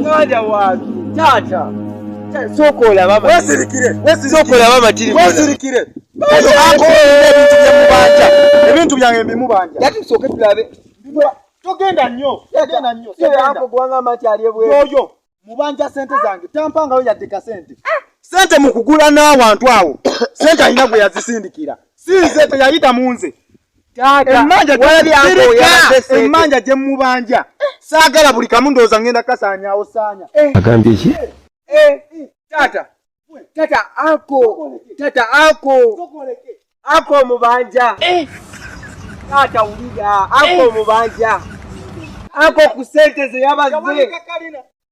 muganda wange taata sooka olaba amatiriwesirikire ebintu byange bimubanja yati tusooke tulabe togenda nnyo togenda nnyo ako kubanga amati ali ebweyoyo mubanja sente zange tampangayo yadde kasente ah! sente mu kugula n'awantu awo sente alina gwe yazisindikira si nze teyayita mu nze emmanja gye mubanja saagala buli kamu ndowooza ngenda kasaanyaawo saanya eh. agambye ki eh, eh, taata taata ako taata ako ako omubanja taata wulira ako omubanja ako ku sente ze yabaze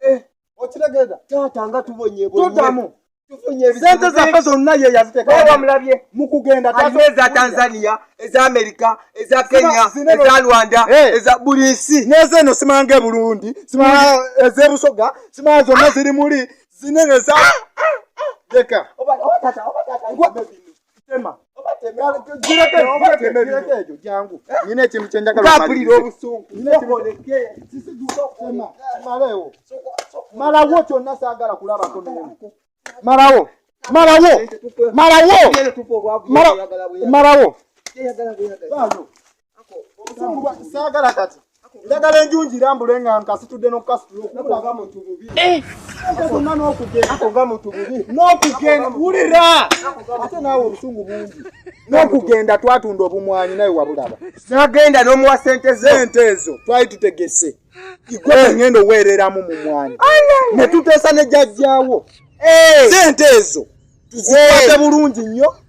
eh, okitegeda taata nga tubonyebonyetodamu sente zaffe zonna ye yazitekamulabye mukugenda eza tanzania eza amerika eza kenya eza rwanda eh. eza buli nsi neza eno simanga eburundi simanga hmm. ezebusoga simanga zonna ziri muli zinene za ah, ah, ah, leka tema nyina ekintu kyenjagalaulira obusungumalawomalawo kyonna sagala kulabako malawo malawo malawo malawo saagala kati njagala enjunji irambule nga nkasitudde nokukasitulaga muntu bubi eh! gonna nokugendaga muntu bubi nokugenda wulira ate naawe obusungu bungi nokugenda twatunda obumwanyi naye wabulaba nagenda nomuwa sente zente ezo twali tutegese igwe eh! ngenda oweereramu mu mwanyi ne tuteesa ne jajjawo eh! sente ezo tuzikwate bulungi nnyo